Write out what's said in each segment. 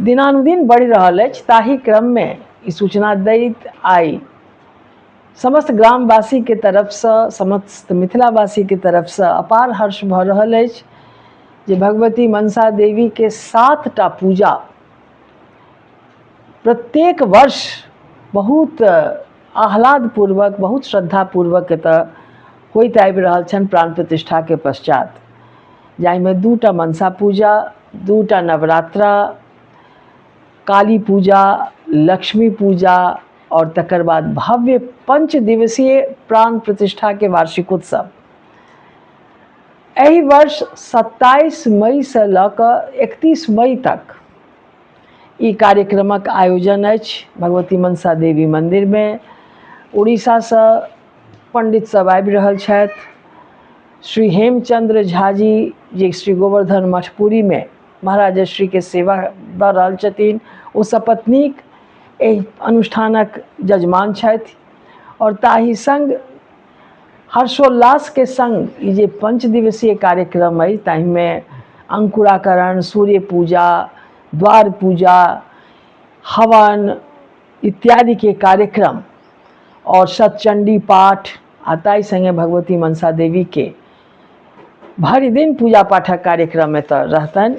दिनानुदिन बढ़ि रहल अछि ताहि क्रममे ई सूचना दैत आइ समस्त ग्रामवासीके तरफसँ समस्त मिथिलावासीके तरफसँ अपार हर्ष भऽ रहल अछि जे भगवती मनसा देवीके सातटा पूजा प्रत्येक वर्ष बहुत आह्लादपूर्वक बहुत श्रद्धापूर्वक एतऽ होइत आबि रहल छनि प्राण प्रतिष्ठाके पश्चात जाहिमे दूटा मनसा पूजा दूटा नवरात्रा काली पूजा लक्ष्मी पूजा और तकर बाद भव्य पंच दिवसीय प्राण प्रतिष्ठाके वार्षिकोत्सव एहि वर्ष 27 मई से लऽ कऽ 31 मई तक ई कार्यक्रमक आयोजन अछि भगवती मनसा देवी मन्दिरमे उड़ीसासँ पण्डित सब आबि रहल छथि श्री हेमचंद्र झा जी जे श्री गोवर्धन मठपुरीमे महाराज श्रीके सेवा दऽ रहल छथिन ओ सपत्नीक एहि अनुष्ठानक जजमान छथि आओर ताहि सङ्ग हर्षोल्लासके संग ई जे पंच दिवसीय कार्यक्रम अछि ताहिमे अंकुराकरण सूर्य पूजा द्वार पूजा हवन इत्यादिके कार्यक्रम आओर सतचंडी पाठ आ ताहि संगे भगवती मनसा देवीके भरि दिन पूजा पाठक कार्यक्रम एतऽ रहतनि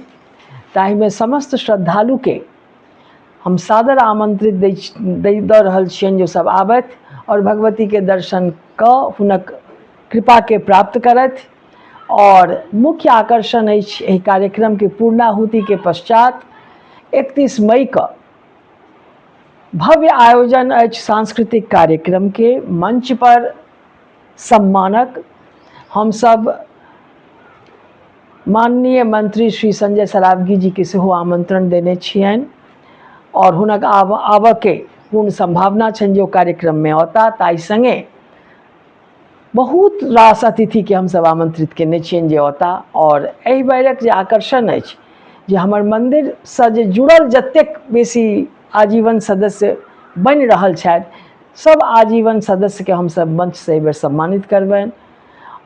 ताहिमे समस्त श्रद्धालुके हम सादर आमन्त्रित दै दै दऽ रहल छियनि जे सभ आबथि आओर भगवतीके दर्शन कऽ हुनक कृपाके प्राप्त करथि आओर मुख्य आकर्षण अछि एहि कार्यक्रमके पूर्णाहुतिके पश्चात एकतीस मईके भव्य आयोजन अछि सांस्कृतिक कार्यक्रमके मञ्चपर सम्मानक हम सब माननीय मंत्री श्री संजय सरावगी जी के सेहो आमंत्रण देने छियनि और हुनक आब आबऽ के पूर्ण संभावना छनि जे ओ कार्यक्रम में औता ताई संगे बहुत रास अतिथि के हम सब आमंत्रित केने छियनि जे औता और एहि बेरक जे आकर्षण अछि जे हमर मंदिर से जे जुड़ल जतेक बेसी आजीवन सदस्य बनि रहल छथि सब आजीवन सदस्य के हम सब मंच से बेर सम्मानित करबैन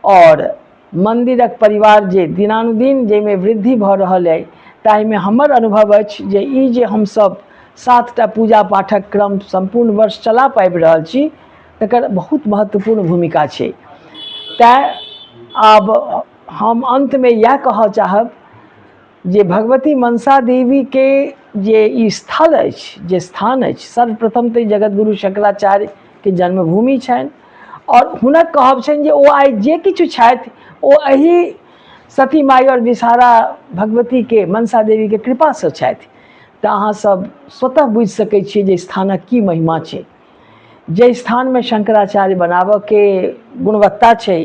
और मंदिरक परिवार जे दिनानुदिन जे में वृद्धि भ रहल है ताहि में हमर अनुभव अछि जे ई जे हम सब सात टा पूजा पाठक क्रम संपूर्ण वर्ष चला पाबि रहल छी तकर बहुत महत्वपूर्ण भूमिका छै तैं आब हम अंत में यह कह चाहब जे भगवती मनसा देवीके जे ई स्थल अछि जे स्थान अछि सर्वप्रथम तऽ जगतगुरु शंकराचार्यके जन्मभूमि छनि आओर हुनक कहब छनि जे ओ आइ जे किछु छथि ओ एहि सती माई आओर विषहारा भगवतीके मनसा देवीके कृपासँ छथि तऽ अहाँसभ स्वतः बुझि सकै छियै जे स्थानक की महिमा छै जे स्थानमे शंकराचार्य बनाबऽके गुणवत्ता छै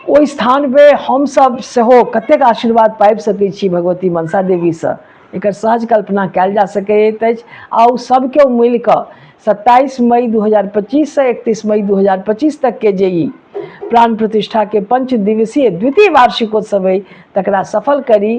ओहि स्थानमे हमसभ सेहो कतेक आशीर्वाद पाबि सकै छी भगवती मनसा देवीसँ एकर सहज कल्पना कयल जा सकैत अछि आ ओ सभ केओ मिलि कऽ सत्ताइस मई दू हजार पच्चीससँ एकतीस मई दू हजार पच्चीस तकके जे ई प्राण प्रतिष्ठाके पंच दिवसीय द्वितीय वार्षिकोत्सव अइ तकरा सफल करी